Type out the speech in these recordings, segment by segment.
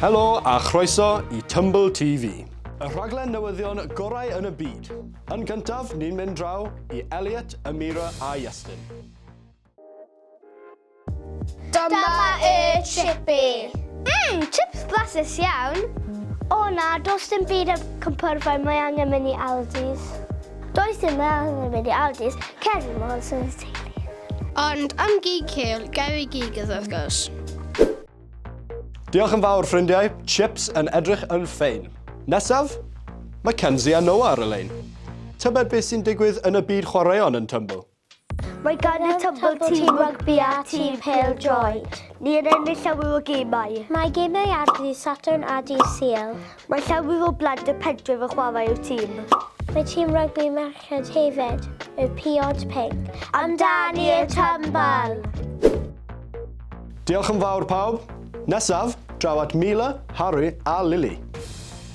Helo a chroeso i Tumble TV. Y rhaglen newyddion gorau yn y byd. Yn gyntaf, ni'n mynd draw i Elliot, Amira a Iestyn. Dyma y chippy! Mmm, chips blasus iawn! O na, does dim byd am cwmpyrfau, mae angen mynd i Aldi's. Does dim angen mynd i Aldi's, cer i Mars yn y teulu. Ond am gig cul, Gary Gigas wrth gwrs. Diolch yn fawr ffrindiau, chips yn edrych yn ffein. Nesaf? Mae Kenzie a Noah ar y lein. Tybed beth sy'n digwydd yn y byd chwaraeon yn Tumble? Mae gan y Tymbl tîm rygbi a tîm pêl-droed. Ni yn ennill llawer o gemau. Mae gemau ar ddydd Sadwrn a dydd Sul. Mae llawer o blant y pentref yn chwarae i'r tîm. Mae tîm rygbi merched hefyd, y Piod Pinc. Amdani y Tymbl! Diolch yn fawr pawb. Nesaf, draw at Mila, Harry a Lily.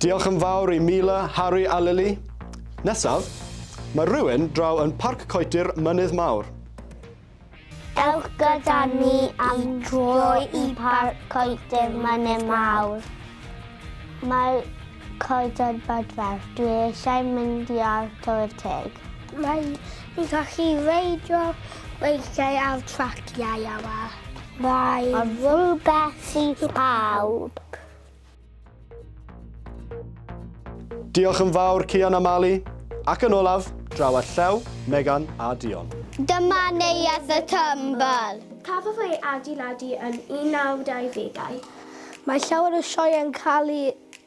Diolch yn fawr i Mila, Harry a Lily. Nesaf, mae rhywun draw yn Parc Coetir Mynydd Mawr. Ewch gyda ni am droi i Parc Coetir Mynydd Mawr. Mae coeden badfer. Dwi eisiau mynd i ar Tywydd Teg. Mae ni'n gallu reidio weithiau ar traciau yma. Mae rhywbeth i bawb. Diolch yn fawr Cian a Mali. Ac yn olaf, draw a llew, Megan a Dion. Dyma Neuadd y Tymbl! Cafodd ei adeiladu yn 1920au. Mae llawer o sioeau'n cael eu